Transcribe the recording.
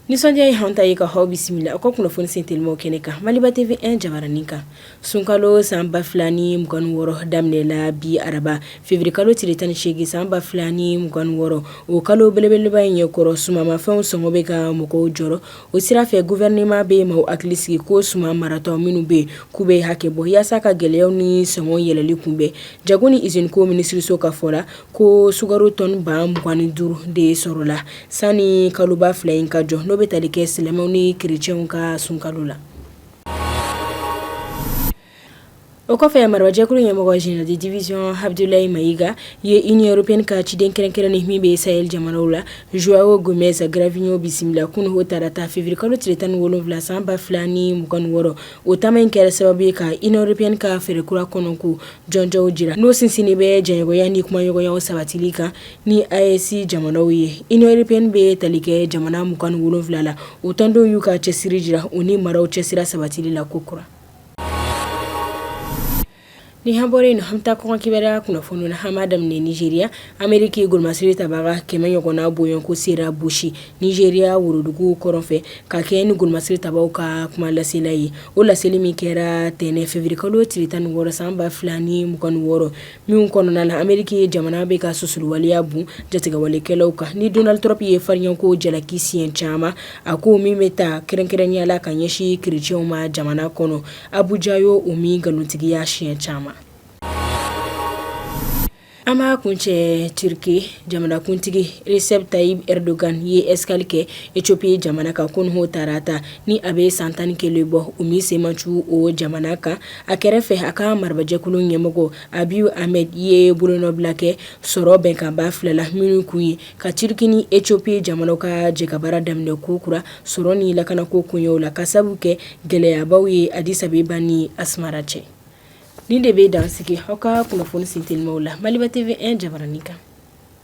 Nisɔndiya ye an ta ye ka aw bisimila aw ka kunnafoni sen telimaw kɛnɛ kan Maliba TV 1 jabaranin kan sunkalo san ba fila ni mugan ni wɔɔrɔ daminɛ la bi araba février kalo tile tan ni seegin san ba fila ni mugan ni wɔɔrɔ o kalo belebeleba in ɲɛkɔrɔ sumamafɛnw sɔngɔ bɛ ka mɔgɔw jɔrɔ o sira fɛ gouvernement bɛ maaw hakili sigi ko suma maratɔ minnu bɛ k'u bɛ hakɛ bɔ yaasa ka gɛlɛyaw ni sɔngɔ yɛlɛli kunbɛn jago ni usine ko minisiriso ka fɔ la ko sukaro tɔni ba mugan ni duuru de sɔrɔla sani kaloba fila in ka jɔ n'o bɛ tali kɛ silamɛw ni kerecɛnw ka sunkalo la. O kɔfɛ marabajɛkulu ɲɛmɔgɔ général de division Abdoulaye Maïga ye Union européenne ka ciden kɛrɛnkɛrɛnnen min bɛ Sahel jamanaw la João Gomes Cravinho bisimila kunu o tarata février kalo tile tan ni wolonfila san ba fila ni mugan ni wɔɔrɔ o taama in kɛra sababu ye ka Union européenne ka fɛɛrɛ kura kɔnɔko jɔnjɔnw jira n'o sinsinnen bɛ jɛɲɔgɔnya ni kumaɲɔgɔnyaw sabatili kan ni AES jamanaw ye Union européenne bɛ tali kɛ jamana mugan ni wolonfila la u tɔndenw y'u ka cɛsiri jira u ni maraw cɛsira sabatili la kokura Ni an bɔra yen an bɛ taa kɔkan kibaruya kunnafoni na an b'a daminɛ Nigeria Ameriki golomasiri tabaga kɛmɛ ɲɔgɔnna bɔɲɔgɔnko sera Bauchi Nigeria worodugu kɔrɔn fɛ ka kɛɲɛ ni golomasiri tabaw ka kumalasela ye o laseli min kɛra tɛnɛn février kalo tile tan ni wɔɔrɔ san ba fila ni mugan ni wɔɔrɔ Min kɔnɔna na Ameriki jamana bɛ ka susuliwaleya bon jatigɛwalekɛlaw kan ni Donald Trump ye farinyako jalaki siɲɛ caman a ko min bɛ taa kɛrɛnkɛrɛnnenya la ka ɲɛsin kerecɛnw ma jamana kɔnɔ Abuja y'o min nkalontigiya siɲɛ caman an b'a kuncɛ Turquie jamanakuntigi Recep Tayyip Erdogan ye escale kɛ Éthiopie jamana kan kunu o tarata ni a bɛ san tan ni kelen bɔ o min sen ma cun o jamana kan a kɛrɛfɛ a ka marabajɛkulu ɲɛmɔgɔ Abiy Ahmed ye bolonɔbila kɛ sɔrɔ bɛnkan ba fila la minnu kun ye ka Turquie ni Éthiopie jamanaw ka jɛkabaara daminɛ kokura sɔrɔ ni lakanako koɲɛw la k'a sabu kɛ gɛlɛyabaw ye Addis Abeba ni Asmara cɛ nin de bɛ dan sigi aw ka kunnafoni sen telimaw la Maliba TV 1 jabaranin kan